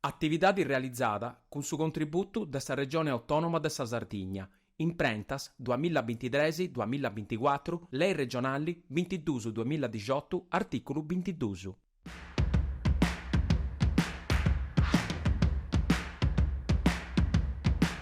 Atividade realizada cun su contributu de sa Regione Autònoma de sa Sardigna, imprentas, duamilla bintitres, duamilla binticuatru, Lei Regionali bintidus, duamilla dixotu, artìculu bintidus.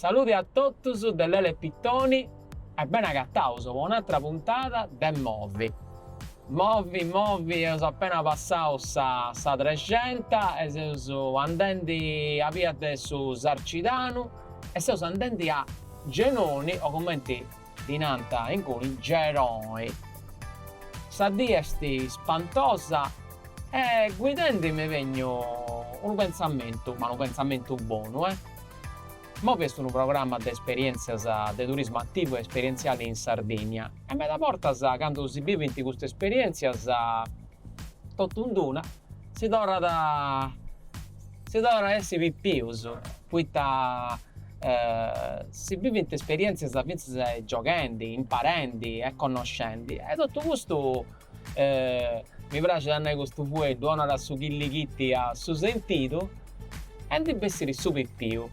Saludi a totus de Lele Pittoni e beni agataus po un'atra puntada de Movi. Movi, movi, eus appena passau sa sa Trexenta e seus andendi a bia de su Sarcidanu e seus andendi a Genoni o cumenti ddi nant inguni Geroi. Sa dì est spantosa e guidendi m'est benniu unu pentzamentu, ma unu pentzamentu bonu, eh. Movi est unu programma de esperientzias de turismu ativu e esperientziali in Sardinnia e meda bortas candu si bivint custas esperientzias Totu in d-una si torrat si torrat a essi pipius poita si bivint esperientzias fintzas gioghendi, imparendi e connoscendi e totu custu mi praxit a nai custu fueddu 'onat su chillichitti a su sentidu e ndi bessit su pipiu.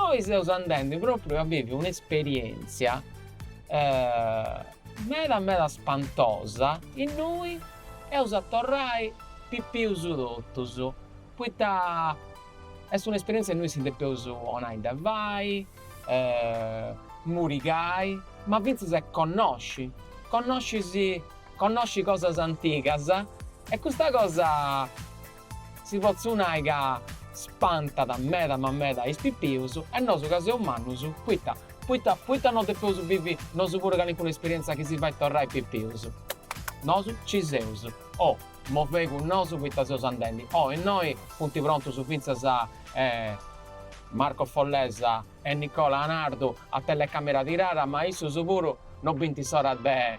Oi seus andendi propriu a bivi un'esperientzia Meda meda spantosa, innui eus a torrai pipius totus, poita est un'esperientzia innui si depeus 'onai da fai, murigai, ma fintzas e connosci, connosci connosci cosas antigas e custa cosa Si potzu nai ca spantat meda ma meda is pipius e nosu ca seus mannus poita poita poita no depeus bivi nosu puru calincuna esperienza chi si fait torrai pipius. Nosu ci seus, movei cun nosu poita seus andendi, innoi funti prontus finzas Marco Follesa e Nicola Anardu a telecamera tirada ma issus puru no bint s'ora de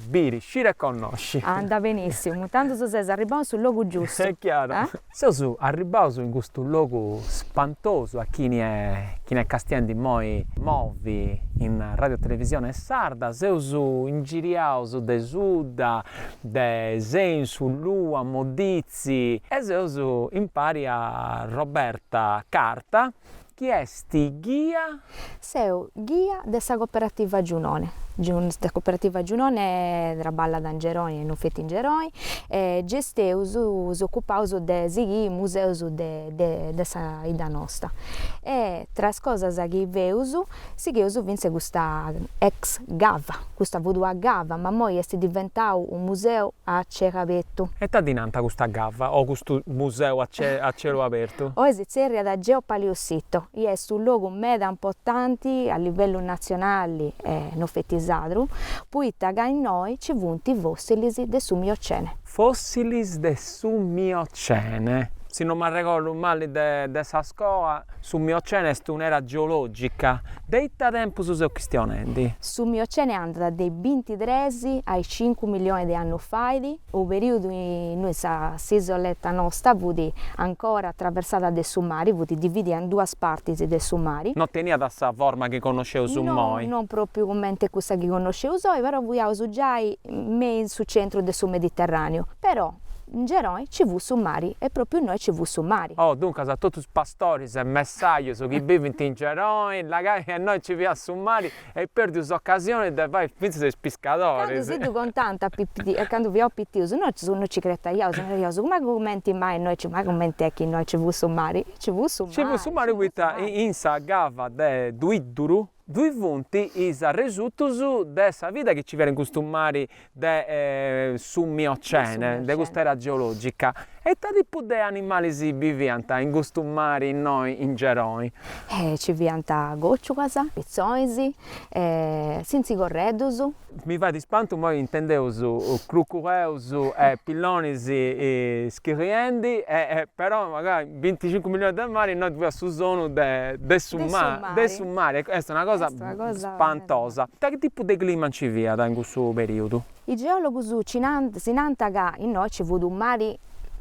biri, sciri e connosci. Anda benissimu, tandus ses arribbau in su logu giustu. Est chiaru. Seus arribbaus in custu logu spantosu a chini est chini est castiendi immoi Movi in Radio Televisione Sarda, seus ingiriaus de sudda, de sensu, lua, modizzi e seus impari a Roberta Carta Chi est ghia. Seu ghia de sa Coperativa Giunone. Sa Coperativa Giunone traballat in Geroni e non feti in Geroni e gesteus, s'ocupaus de sighiri is museus de sa 'idda nosta e tra is cosas chi feus Sigheus fintzas custa ex gava, custa futua gava, ma imoi est diventau unu museu a celu abertu. E ita ddi nant custa gava o custu museu a a celu abertu? Oi si tzerriat Geopaleosito, i est u logu meda importanti a livellu natzionali e no feti sardu, poita ca innoi ci funt fossilis de su Miocene. Fossilis de su Miocene. Si no m'arregordu mali de sa scola, su Miocene est un'era geològica de ita tempus seus chistionendi? Su Miocene andat de is bintitres a is cincu milionis de annus fait, unu perìodu innui s'isoletta nosta fut ancora atraversada de su mari, fut dividida in duas partis de su mari. No teniat sa forma chi connosceus immoi. No, non pròpriu cumenti cussa chi connosceus oi, però fiaus giai me in su centru de su Mediterraneu, però in Geroi ci fut su mari e propriu innoi ci fut su mari. Oh, duncas a totus is pastoris e messajus chi bivint in Geroi, labai ca innoi ci fiat su mari e eis perdiu s'ocasioni de fai fintzas is piscadoris. Candu si ddu contànt a candu fiaus pitius, nosu no ci cretaiaus, naraiaus, ma cumenti mai innoi ci, ma cumenti est chi innoi ci fut su mari? Ci fut su mari! Ci fut su mari poita in sa gava de Duidduru, Dui funt is arresutus de sa vida chi nci fiat in custu mari de su Miocene, de custa era geològica. E ita tipu de animalis biviant in custu mari innoi in Geroi? Nci fiant còciuas, pitzonis, sintzicorreddus. Mi fait ispantu imoi intendeus crucureus e pillonis schiliendi e però mancai binticincu millionis de mari innoi fiat su sonu de de su mari, de su mari, e est una cosa spantosa. Ita tipu de clima nci fiat in cussu periudu? Is geologus si nant ca innoi nci fut unu mari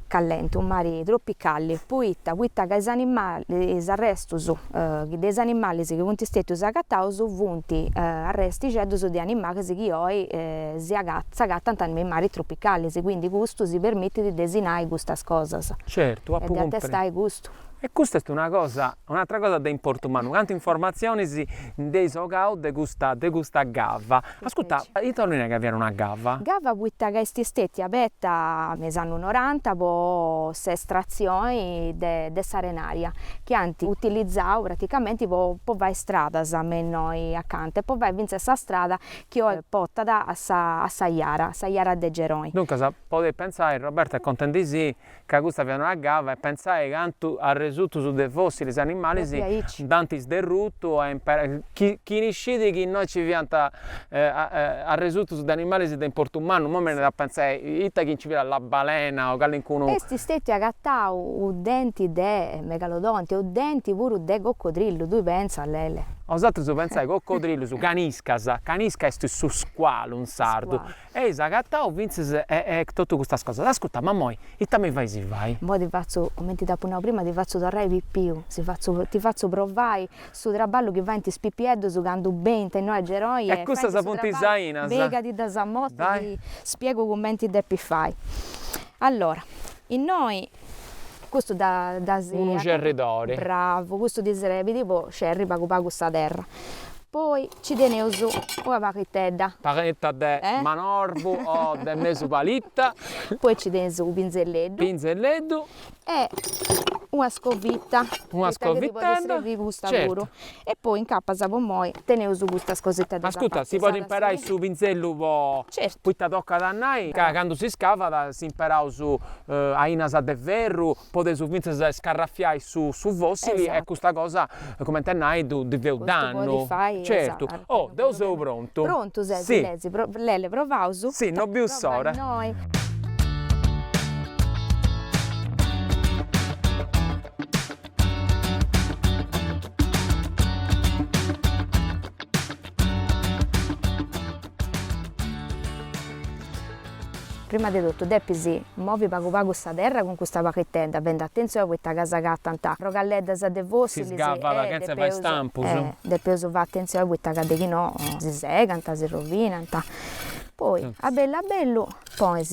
callenti unu mari tropicali poita poita ca is animalis is arrestus de is animalis chi funt stetius agataus funt arrestixeddus de animalis chi oi s'agatant me is maris tropicalis quindi custu si permitit de sinnai custas cosas Certu apu cumpresu e de atestai custu. E custa est una cosa un'atra cosa de importu mannu cantus informatzionis nd'eis 'ogau de custa de custa gava. Ascurta, ita 'ollit nai ca fiat una gava? Gava poita ca est istetia aberta me is annus noranta po s'estratzioni de de s'arenaria chi ant utilizau praticamenti po po fai stradas me innoi acanta e po fai fintzas sa strada chi oi potat a sa a sa jara, sa jara de Geroni. Duncas, podeis pentzai, Roberto est contendisì, ca custa fiat una cava e pentzai cantu arresutus de fossilis animalis nd'ant isderrutu e chini scit chi innoi nci fiant arresutus de animalis de importu mannu, imoi mi benit a pentzai ita chi nci fiat la balena o calincunu. Est stetiu agatau u denti de megalodonti e u denti puru de coccodrillu, tui pentzas Lele. Bosatrus pentzai coccodrillus, caniscas, canisca est su squalu in sardu, Eis agatau fintzas e totu custas cosas. Ascurta, ma imoi, ita mi fais fai? Imoi ti fatzu, comenti t'apu nau prima, ti fatzu torrai pipiu, si fatzu, ti fatzu provai su traballu chi faint is pipieddus candu benint innoi a Geroi e custas funt is ainas mi' ca ti ddas amostru e ti spiegu cumenti depis fai. Allora, innoi Custu dda si. Unu cerridori. Bravu, custu ti srebit po cerri pagu pagu sa terra. Poi nci teneus una paghittedda. Palitta de manorbu o de mesu palitta. Poi nci teneus u pinzelleddu. Pinzelleddu. E una scovitta. Una scovittedda. Poita ti podit srebiri custa puru. E poi incapas po moi. Teneus custas cosetas de sa parte. Ascuta, si podit imperai su pinzellu po. Certu. Poita tocat a nai ca candu si scavat s'imperaus ainas de ferru podeus fintzas a iscarrafiai su su fossili e custa cosa cumenti a nai ddu ddi feus dannu. Certu. Oh, deu seu prontu. Prontu ses? Si. Lezi, Lele, provaus? Si, no biu s'ora. Prima de totu depis movi pagu pagu sa terra cun custa paghittedda, fendi atentzioni poita ca s'agatant arrogalleddas de fossilis, si scavat chentza fai istampus, depeus fai atentzioni poita ca de chi no si segant, si rovinant, poi a bellu a bellu ponis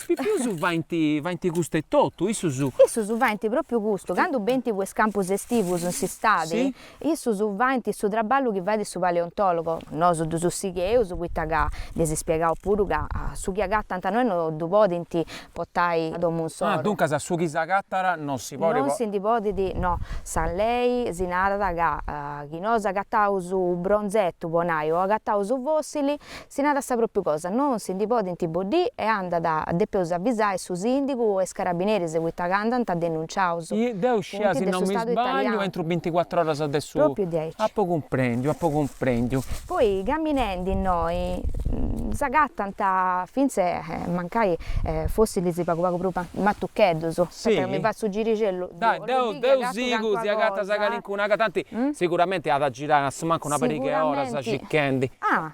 Is pipius faint custu etotu, issus. Issus faint pròpiu custu, candu benint po is campus estivus in s'istadi, issus faint su traballu chi fait su paleontòlogu, nosu ddus sigheus poita ca ddis spiegaus puru ca su chi agatant innoi no ddu podint portai a domu insoro. Duncas su chi s'agatat non si podit. Non si ndi podit, no. Sa lei si narat ca chi nosu agataus u' bronzetu, po nai, o agataus u' fossili, Si narat sa pròpiu cosa, non si ndi podint boddì e andat a depeus avisai su sìndigu e is carabineris poita ca andant denunciaus. Deu scìa si non mi sbagliu entro binticuatru oras de su. Pròpiu diaici. Apu cumprèndiu, apu cumprèndiu. Poi caminendi innoi s'agatant fintzas e mancai fossilis pagu pagu prus matucheddus, poita ca mi fait su giricellu, deu deu sigu si agatas calincuna, tanti siguramenti at a girai asumancu una pariga 'e oras circhendi. Ah!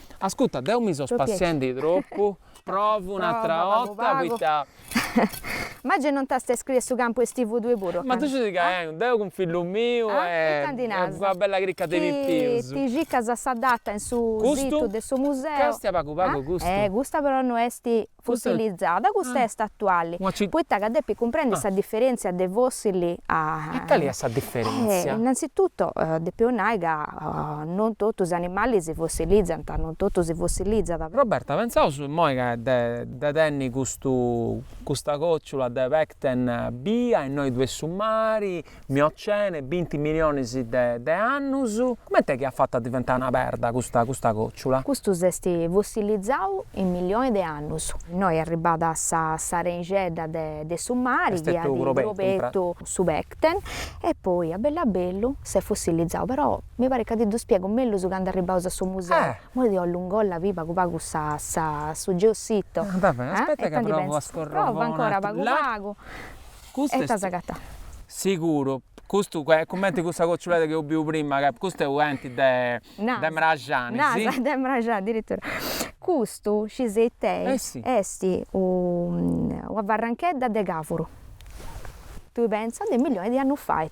Ascuta, deu mi so spassiendi tropu, provu un'atra 'orta poita. Maggi non t'as a iscriere a su campu estivu tue puru? Ma tui scis ca 'enu deu cun fillu miu e una bella cricca de pipius. Ti circas sa data in su situ de su museu. Custu castia pagu pagu custu? Eh custa però no est Fossilizzada, custa est atuali, poita ca depit cumprendi sa diferèntzia de fossili. E cali est sa diferèntzia? Innanzitutto depeus nai ca non totu is animalis si fossilizzant, non totu si fossilizzat. Roberta, Pentzaus immoi ca de tenni custu, custa còciula de pecten bia innoi ddui est su mari, Miocene, binti milionis de de annus, comente est chi at fatu a diventai una perda custa custa còciula? Custu s'est fossilizau in milioni de annus. Innoi arribat sa sa arenixedda de de su mari chi at crobetu su pecten e poi a bellu a bellu s'est fossilizau. Però mi parit ca ti ddu spiegu mellus candu arribaus a su museu. Imoi deu allunghiu a bi' pagu pagu sa sa su geossito. Aspetta ca provu a scorrere. Prova ancora pagu pagu. Custu est. Ita as agatau. Siguru. Custu est cumenti cussa cociuledda chi eus biu prima, ca custu est una denti de. Naras. De mraxani. Naras, de mraxani, adiritura. Custu, scis ita est. Est una farranchedda de cavuru. Tui pensa de millioni de annus fait.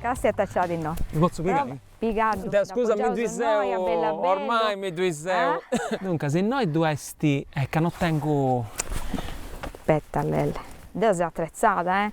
Castia ita ci at innoi. Ddi potzu pigai? Pigaddu. Deu scusa mi ddui seu, ormai mi ddui seu. Duncas innoi ddu est e ca no tengu. Abeta Lele. Deu seu atretzada, eh!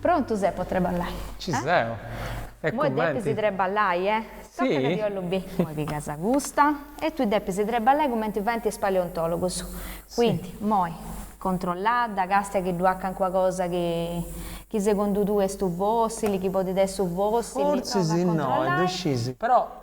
Prontu ses po treballai? Ci seu. E cumenti? Moi depis treballai, eh? Toca chi 'ollu bi. Moi pigas custa e tui depis treballai cumenti faint is paleontologus. Quindi, moi, controlladda, castia chi ddu at cancuna cosa chi chi segundu tui est u' fossili, chi podit essi u' fossili, prova a controllai. Fortzis innoi, ddu scis, però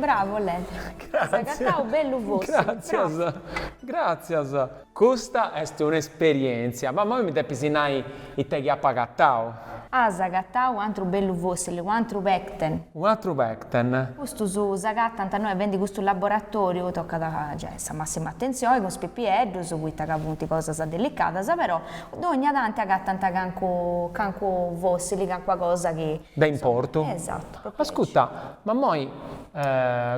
Bravo Lele. As agatau bellu fossili. Gràtzias. Gràtzias. Custa est un'esperièntzia. Ma imoi mi depis nai ite chi apu agatau. As agatau u atru bellu fossili, u atru pecten. U atru pecten. Custus s'agatant innoi fendi custu laboratoriu tocat a giai sa massima attenzioni cun is pipieddus, poita ca funt cosas delicadas, però Dogna tanti agatant cancu, cancu fossili, cancua cosa chi. De importu? Esattu, propriu aici. Ascuta, ma moi,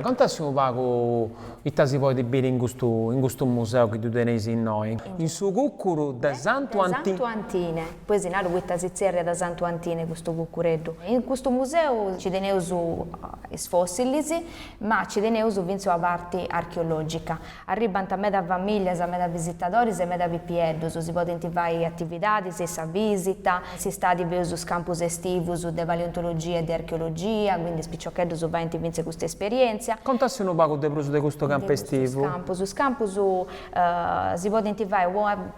contassi unu pagu ita si podit biri in custu, in custu museu chi ddu teneis innoi. In su cuccuru de Santu Anti. De Santu Antine, poi si naru poita si tzerriat Santu Antine custu cuccureddu. In custu museu nci teneus is fossilis, ma nci teneus fintzas una parti archeologica. Arribbant meda famìlias, meda visitadoris e meda pipieddus, si podint fai atividadis, sa vìsita, s'istadi feus is campus estivus de paleontologia e de archeologia, quindi is piciocheddus faint fintzas custa esperièntzia. Contassi unu pagu de prus de custu campu estivu. Is campus si podint fai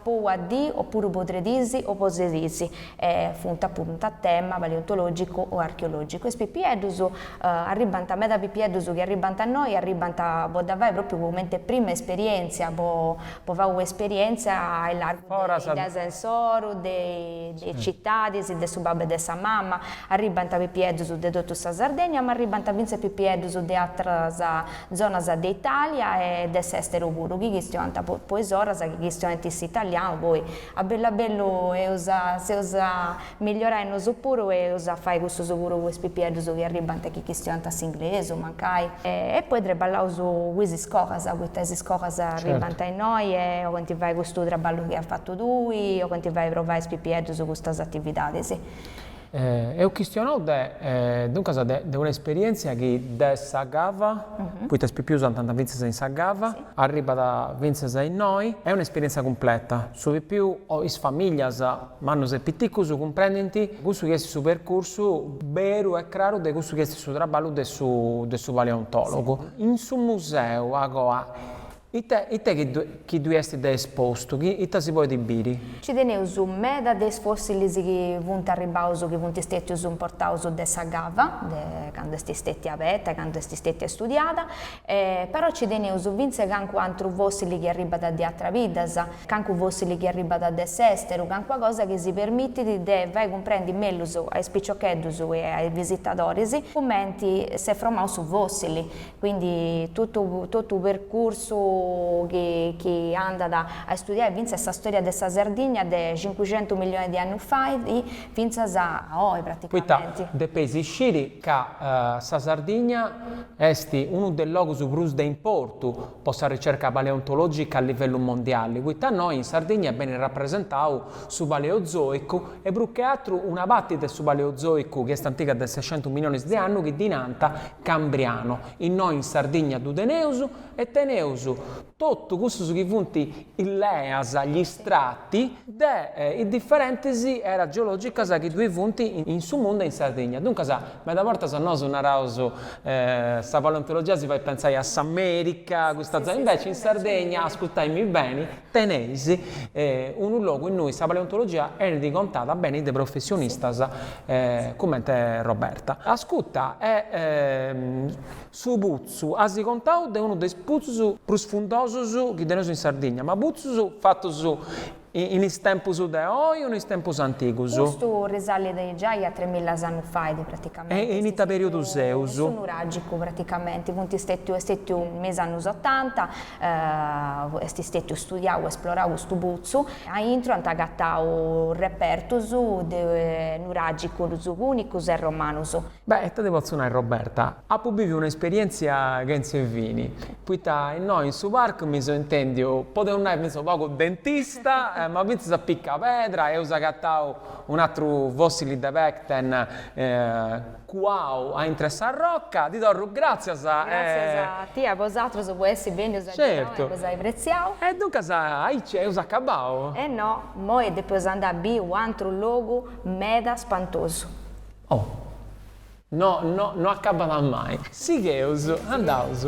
po una dì o puru po tres dís o po ses dís. e funt puru a tema paleontològicu o archeològicu, is pipieddus arribbant, meda pipieddus chi arribbant a innoi arribbant po dda fai pròpriu comenti prima esperièntzia, po po fai una esperièntzia a illargu de s'insoru, de is citadis, de su babbu e de sa mama, arribbant pipieddus de totu sa Sardegna ma arribbant fintzas pipieddus de atras zonas de Italia e de s'esteru puru chi chistionant po is oras chi chistionant s'italianu poi A bellu a bellu eus a seus a migliorai nosu puru e eus a fai cussus puru po is pipieddus chi arribbant chi chistionant s'inglesu, mancai. E poi treballaus cu is iscogas poita is iscogas arribbant a innoi e oghent fai custu traballu chi as fatu tui, oghent fai provai a is pipieddus custas atividadis. Eus chistionau de, duncas de, de una esperièntzia chi de sa cava, poita is pipius andant fintzas in sa cava, arribat fintzas a innoi, est una esperièntzia cumpleta, su pipiu o is famìllias, mannus e piticus, cumprendint cussu chi est su percursu beru e craru de cussu chi est su traballu de su, de su paleontòlogu. In su museu, agoa, Ita, ita chi ddu, chi ddui est de espostu, chi, ita si podit biri? Ci teneus meda de is fossilis chi funt arribbaus, chi funt stetius portaus de sa cava, de candu est stetia abeta e candu est stetia studiada, e però ci teneus fintzas cancu antru fossili chi arribbat de atras biddas, cancu fossili chi arribbat de s'esteru, cancua cosa chi si permitit de fai cumprendi mellus a is piciocheddus e a is visitadoris cumenti s'est fromau su fossili, Quindi totu totu percursu chi chi andat a istudiai fintzas sa storia de sa Sardigna de cincucentu millionis de annus fait fintzas a oi Poita praticamenti. depeis isciri ca sa Sardigna est unu de is logus prus de importu po sa ricerca paleontologica a livellu mondiali, poita innoi in Sardigna benit rapresentau su Paleozoicu e prus che atru una parti de su Paleozoicu chi est antiga de sescentus milionis de annu chi ddi nant Cambriano, innoi in Sardigna ddu teneus e teneus totu cussus chi funt is leas, gli strati, de is diferentis eras geologicas chi ddoi funt in su mundu e in Sardigna. Duncas meda bortas nosu naraus sa paleontologia si fait pentzai a s'America, custa zona, inveci in Sardegna, ascurtaimmi beni, Teneis unu logu innui sa paleontologia enit contada beni de professionistas cumenti Roberta. Ascuta e su putzu as contau de unu de is putzus prus fundosus chi teneus in Sardigna, ma putzus fatus in is tempus de oi o in is tempus antigus? Custu risalit giai a tremillas annus fait praticamenti. E in ita periudu seus? Su nuragicu praticamenti, funt stetiu, est stetiu me is annus otanta, Est stètiu studiau, esplorau custu putzu. A intro ant agatau repertus de nuràgicus pùnicus e romanus. Beh, ita ti potzu nai Roberta, apu biviu una esperièntzia chentza 'e fini, poita innoi in su parcu mi seu intèndiu, podeus nai fintzas u' pagu dentista, ma fintzas a piccapedra, eus agatau un'atru fossili de pècten, Cuau a intru 'e sa roca. Ti torru gràtzias e. Gràtzias a tie, a bosatrus po essi bènnius a Geroni e po s'ai apretziau. E duncas aici eus acabau? E no, moi depeus andai a biri u antru logu meda spantosu. Oh. No, no, no acabat mai. Sigheus, andaus.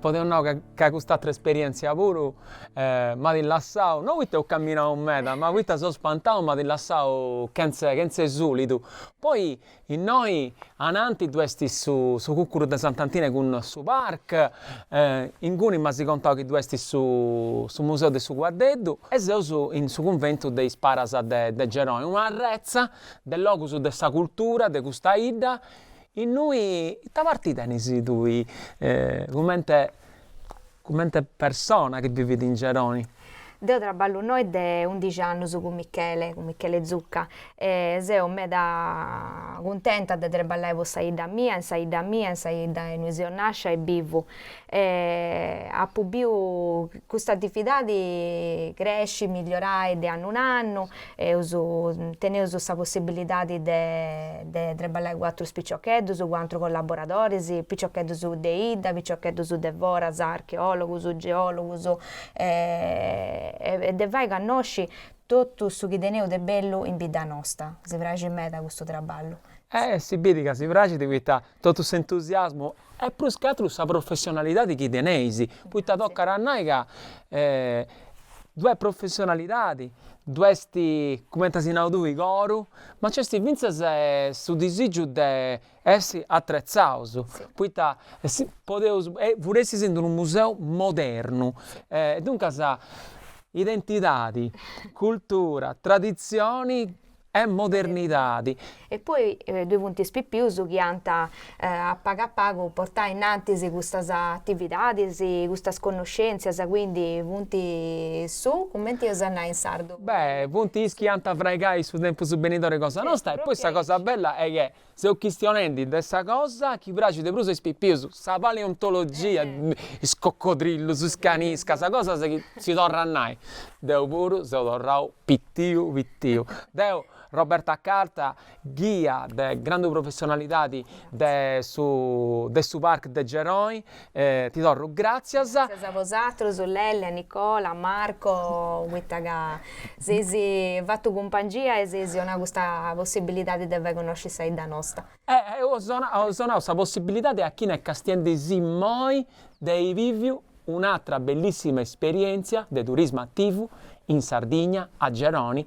Podeus nai ca cust'atra esperientzia puru m'at lassau, no poita eus camminau meda, ma poita seu spantau, m'at lassau chentza chentza 'e sulidu. Poi innoi ananti ddu esti su su cucuru de Sant'Antine cun su PARC, inguni m'as contau chi ddu esti su su museu de su cuaddeddu e seus in su cunventu de is paras de de Geroni, una arretza de logus de sa cultura de custa idda, Innui ita parti tenis tui cumenti cumenti persona chi bivit in Geroni? Deu traballu innoi de undixi annus cun Michele, cun Michele Zucca, e seu meda cuntenta de traballai po sa 'idda mia, in sa 'idda mia, in sa 'idda innui seu nascia e bivu. E apu biu custa atividadi cresci, migliorai de annu in annu, eus teneus sa possibilidadi de de trabballai cun atrus piciocheddus, cun atrus collaboradoris, piciocheddus de 'idda, piciocheddus de foras, archeologus, geologus e de fai connosci totu su chi teneus de bellu in bidda nosta. Si praxit meda custu trabballu. Eh si bidi ca si praxit poita Totu s'entusiasmu e prus che atru sa professionalidadi chi teneis, poita tocat a nai ca ddu est professionalidadi, ddu est, cumenti as nau tui, coru, ma nc'est fintzas su disigiu de essi atretzaus, poita podeus, puru essi in d'unu museu modernu, e duncas identidadi, cultura, traditzioni e modernidadi. E poi ddoi funt is pipius chi ant a pagu a pagu portai innantis custas atividadis, custas connoscèntzias, quindi funt su, cumenti eus a nai in sardu? Beh, funt is chi ant a fraigai su tempus benidori cosa nosta e poi sa cosa bella est chi seus chistionendi de sa cosa chi praxit de prus a is pipius, sa paleontologia, is coccodrillus, is caniscas, cosas chi si torrat nai, deu puru seu torrau pitiu pitiu. Deu, Roberta Carta, ghia de grandu professionalidadi de su de su Parc de Geroi, E ti torru gràtzias. Gràtzias a bosatrus, Lelle, Nicola, Marco, poita ca s'eis fatu cumpangia e s'eis donau custa possibilidadi de fai connosci sa 'idda nosta. E eus donau sa possibilidadi a chini est castiendi-sì immoi de ai biviu un'atra bellissima esperièntzia de turismu ativu in Sardigna, a Geroni,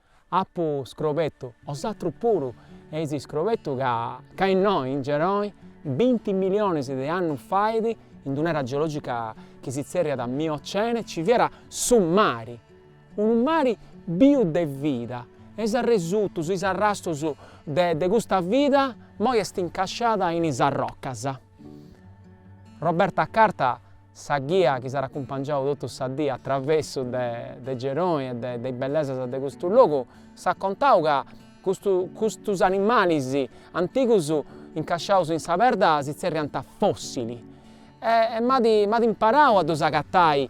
Apu scrobetu bosatrus puru eis scrobetu ca ca innoi in Geroi binti milionis de annus fait in d'un'era geologica chi si tzerriat Miocene ci fiat su mari, unu mari biu de vida e is arresutus, is arrastus de de custa vida moi est incasciada in is arrocas. Roberta Carta Sa ghia chi s'at acumpangiau totu sa dì a travessu de Geroni e de is bellesas de custu logu s'at contau ca custus animalis antigus incasciaus in sa perda si tzerriant fossili e m'at imparau a ddus agatai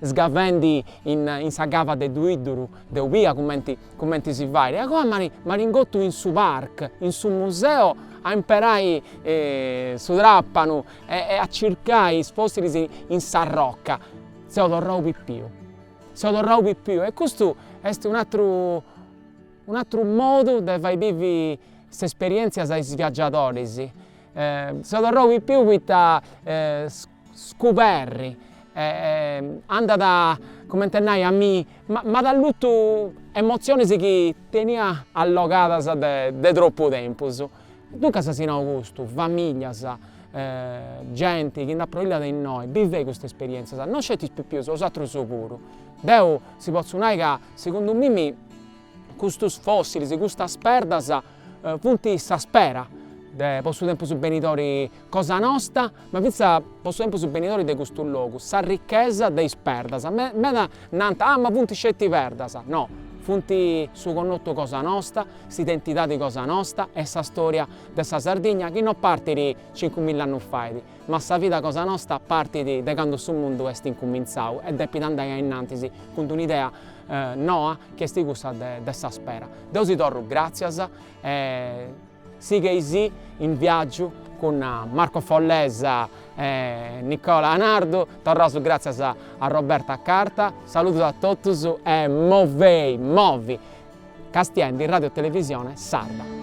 sgavendi in sa cava de Duidduru deu bia cumenti si fait e agoa m'at ingotu in su Parc, in su museu a imperai su trapanu E a circai is fòssilis in s'arroca seu torrau pipiu, seu torrau pipiu e custu est un'atru un'atru modu de fai bivi s'esperièntzias a is viaggiadoris. Seu torrau pipiu poita scuberri andat cumenti a nai a mi m'at allutu emotzionis chi tenia allogadas de de tropu tempus Duncas si nau custu, familias, genti chi nd'aproilliat innoi, bivei custas esperièntzias, no sceti is pipius, is atrus puru. Deu si potzu nai ca segundu mimi custus fossilis, custas perdas funt sa spera de po su tempus benidori cosa nosta Ma fintzas po su tempus benidori de custu logu sa richesa de is perdas, meda nant, ah ma funt sceti perdas, no, funt su connotu cosa nosta, s'identidadi cosa nosta e sa storia de sa Sardigna chi no partit cincu milla annus fait, ma sa vida cosa nosta partit de candu su mundu est incumintzau e depit andai a innantis cun d'un'idea noa chi est cussa de sa spera. Deu si torru gràtzias. Sighei·sì in viàgiu cun Marco Follesa e Nicola Anardo, torraus gràtzias a Roberta Carta, saludus a totus e movei, movi! Castiendi Radio Televisione Sarda.